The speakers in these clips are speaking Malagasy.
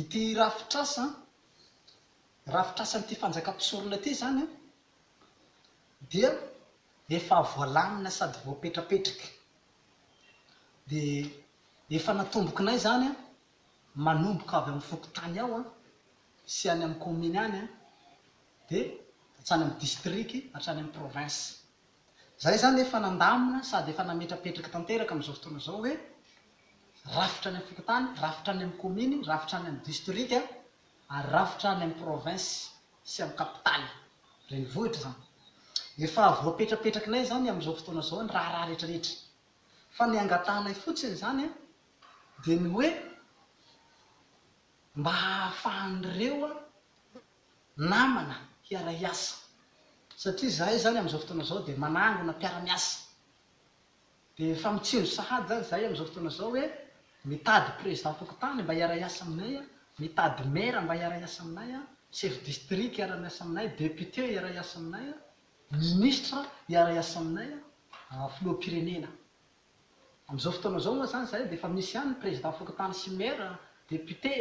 Ity rafitr'asa, rafitr'asan'ity fanjakam-pisorona ity izany an, dia efa voalamina sady voapetrapetraka. Dia efa natombokinay izany an, manomboka avy amin'ny fokontany ao an, sy any amin'ny kaominy any an, dia hatrany amin'ny distriky, hatrany amin'ny province. Za izany efa nandamina sady efa nametrapetraky tanteraka amin'izao fotoana izao hoe rafitra any amin'ny fokontany, rafitra any amin'ny kaominy, rafitra any amin'ny distrika ary rafitra any amin'ny province sy amin'ny kapitaly renivohitra izany. Efa voapetrapetrakinay izany amin'izao fotoana izao ny raharaha rehetrarehetra. Fa ny angatahanay fotsiny izany dia ny hoe mba ahafahan'ireo namana hiara-hiasa satria izahay zany amin'izao fotoana izao dia manangona mpiara-miasa dia efa mitsinjo sahady zany izahay amin'izao fotoana izao hoe mitady président fokontany mba hiara-hiasa aminay an, mitady maire mba hiara-hiasa aminay an, chef district hiara-miasa aminay, député hiara-hiasa aminay an, ministre hiara-hiasa aminay an, filoham-pirenena. Amin'izao fotoana izao moa izany izahay dia efa misy ihany ny Président fokontany sy Maire, Député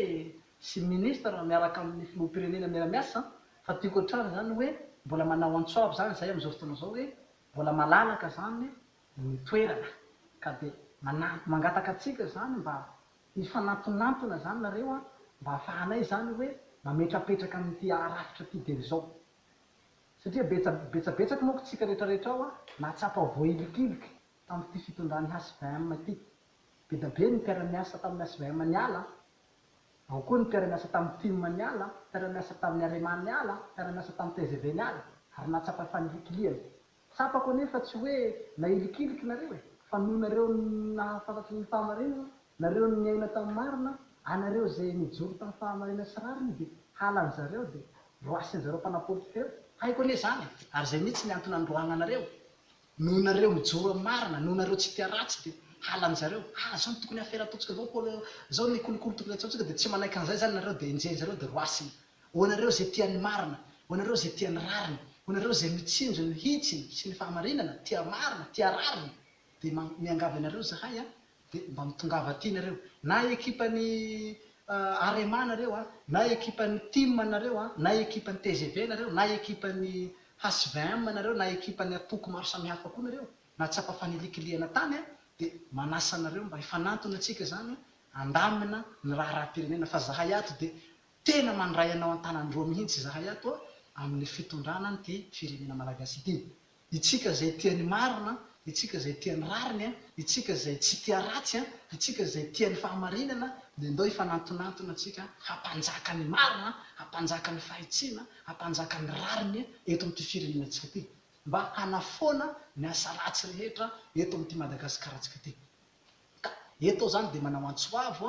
sy Ministre miaraka amin'ny Filoham-pirenena miara-miasa fa tiako hatrany izany hoe mbola manao antso avo izany izahay amin'izao fotoana izao hoe mbola malalaka izany ny toerana ka dia manampy mangataka antsika izany mba hifanantonantona izany nareo an, mba hahafahanay izany hoe mametrapetraka an'ity rafitra ity dia izao satria betsabetsaka manko tsika rehetrarehetra ao an, mahatsapa voahilikilika. Tamin'ity fitondran'ny HVM ity, be dia be ny mpiara-miasa tamin'ny HVM niala, ao koa ny mpiara-miasa tamin'ny tim niala, mpiara-miasa tamin'ny Arema niala, mpiara-miasa tamin'ny tgv niala, ary nahatsapa fanilikilihana. Tsapako anie fa tsy hoe nailikiliky nareo e! Fa noho nareo nahafantatry ny fahamarinana, nareo niaina tamin'ny marina, anareo izay nijoro tamin'ny fahamarinana sy rariny dia halan'ny zareo dia roasin'ny zareo mpanapolitika ireo. Haiko anie izany e! Ary izay mihitsy ny antony nandroahananareo Noho nareo mijoro am marina, noho nareo tsy tia ratsy de halan zareo, ah zao no tokony hafera ataontsika zao polo zao ny kolikoly tokony atsaontsika de tsy manaiky anzay zany nareo de enjehin zareo de roasina, ho anareo ze tia ny marina, ho anareo ze tia ny rariny, ho anareo ze mitsinjo ny hitsiny sy ny fahamarinana, tia marina, tia rariny de miangavy anareo zahay an, dia mba mitongava aty nareo na ekipan'ny Arema nareo a, na ekipan'ny Tim nareo a, na ekipan'ny tgv nareo, na ekipan'ny HVM nareo, na ekipan'ny antoko maro samihafa koa nareo na tsapa fanilikilihana tany a, dia manasa anareo mba hifanantona tsika zany handamina ny raharaham-pirenena fa zahay ato dia tena mandray anao an-tanan'ny roa mihintsy zahay ato amin'ny fitondrana an'ity firenena Malagasy ity. Itsika izay tia ny marina, itsika izay tia ny rariny, itsika izay tsy tia ratsy, itsika izay tia ny fahamarinana, dia ndao hifanantonantona tsika hampanjaka ny marina, hampanjaka ny fahitsiana, hampanjaka ny rariny eto amin'ity firenenantsika ity, mba hanafoana ny asa ratsy rehetra eto amin'ity Madagasikaratsika ity. Ka eto aho izany dia manao antso avo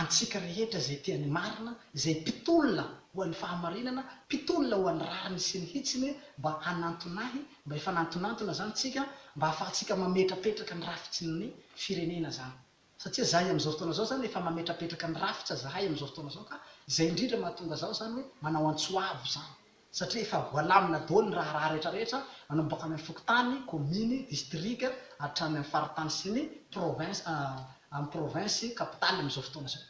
Antsika rehetra izay tia ny marina, izay mpitolona ho an'ny fahamarinana, mpitolona ho an'ny rariny sy ny hitsiny, mba hanantonahy, mba efa nantonantona izany tsika, mba ahafahantsika mametrapetraka ny rafitsin'ny firenena izany. Satria izahay amin'izao fotoana izao izany efa mametrapetraka ny rafitra izahay amin'izao fotoana izao ka, izay indrindra mahatonga izaho izany hoe manao antso avo izany. satria efa voalamina daholo ny raharaha rehetra rehetra manomboka any amin'ny fokontany, kominy, distrika hatrany amin'ny faritany sy ny province amin'ny province capitale amin'izao fotoana izao.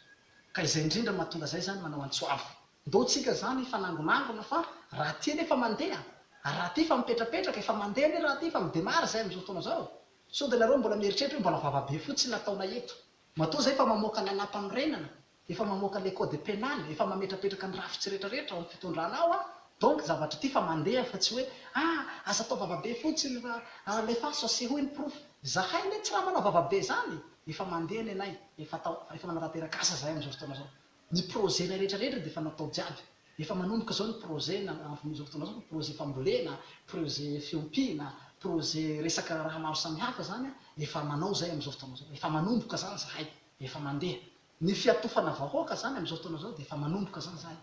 Ka izay indrindra no mahatonga izay izany manao antso avo. Ndao tsika izany hifanangonangona fa raha ty anie efa mandeha ary raha ty efa mipetrapetraka, efa mandeha anie raha ty efa midemare izay amin'izao fotoana izao, sao dia nareo mbola mieritreritra hoe mbola vava be fotsiny ataonay eto. Matoa izay fa mamoaka ny anam-panorenana Efa mamoaka le code penal, efa mametrapetraka ny rafitsy rehetra rehetra ao am fitondrana ao aho, donc zavatra ity fa mandeha fa tsy hoe ah aza atao vavabe fotsiny fa alefaso asehoy ny porofo, zahay anie tsy raha manao vavabe zany, efa mandeha nenay, efa atao, efa manarateraka asa zahay amzao fotoana zao, ny projet nay rehetra rehetra dia efa natao jiaby, efa manomboka zao ny projet na amzao fotoana zao fa projet fambolena, projet fiompiana, projet resaka raha maro samihafa zany an, efa manao zay amzao fotoana zao, efa manomboka zany zahay. Efa mandeha. Ny fiatofana vahoaka zany amizao fotoana zao dia efa manomboka zany zany.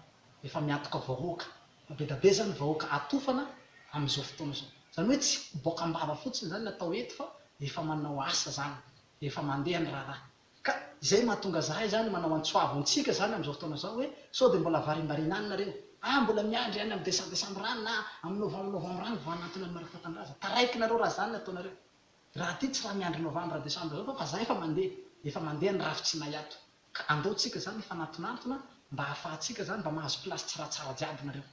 Efa miatoka vahoaka. Bedabe zany vahoaka atofana amizao fotoana zao. Zany hoe tsy boaka ambava fotsiny zany ny atao eto fa efa manao asa zany. Efa mandeha ny raharaha. Ka izay mahatonga zahay zany manao antsoavo antsika zany amizao fotoana zao hoe sao dia mbola varimbariana any nareo. Ah mbola miandry any am desambesambra any na am novambnovambra any vao hanantona ny Marc Tatandraza. Taraiky nareo raha zany ny ataonareo. Raha aty tsy raha miandry novambra desambra zao fa fa za efa mandeha, efa mandeha ny rafitsinay ato ka andao tsika zany hifanatonantona mba hahafahantsika zany mba mahazo place tsra tsara jiaby nareo.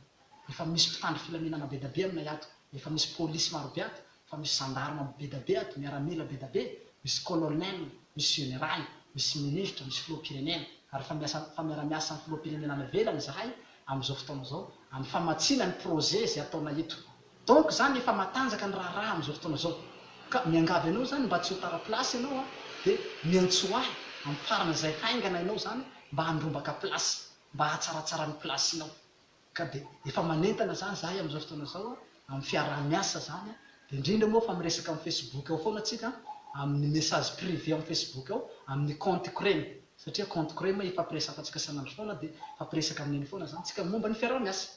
Efa misy mpitandro filaminana bedabe aminay ato, efa misy police marobe ato, fa misy gendarme bedabe ato, miaramila bedabe, misy colonel, misy général, misy ministre, misy filoham-pirenena ary fa miasa fa miara-miasa am filoham-pirenena any ivelany zahay am zao fotoana zao am famatsiana ny projet zay ataonay eto. Donc izany efa matanjaka ny raharaha amin'izao fotoana izao. Ka miangavy anao izany mba tsy ho tara place ianao an, dia miantsoa ahy amin'ny farana izay haingana ianao izany mba handrombaka place, mba hahatsaratsara ny place-nao. Ka dia efa manentana izany izahay amin'izao fotoana izao an, amin'ny fiaraha-miasa izany an, dia indrindra moa fa miresaka amin'ny Facebook ao foana isika an, amin'ny message privé amin'ny Facebook ao, amin'ny compte-ko ireny. Satria compte crema ifampiresafantsika sanandro foana dia mifampiresaka amin'iny foana zany tsika momba ny fiaraha miasa.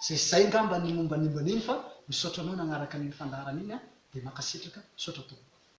Zay zay ngamba ny momba ny momba an'iny fa misaotra anao nagnaraka an'iny fandaharana iny a dia mankasitraka, misaotra tompoko.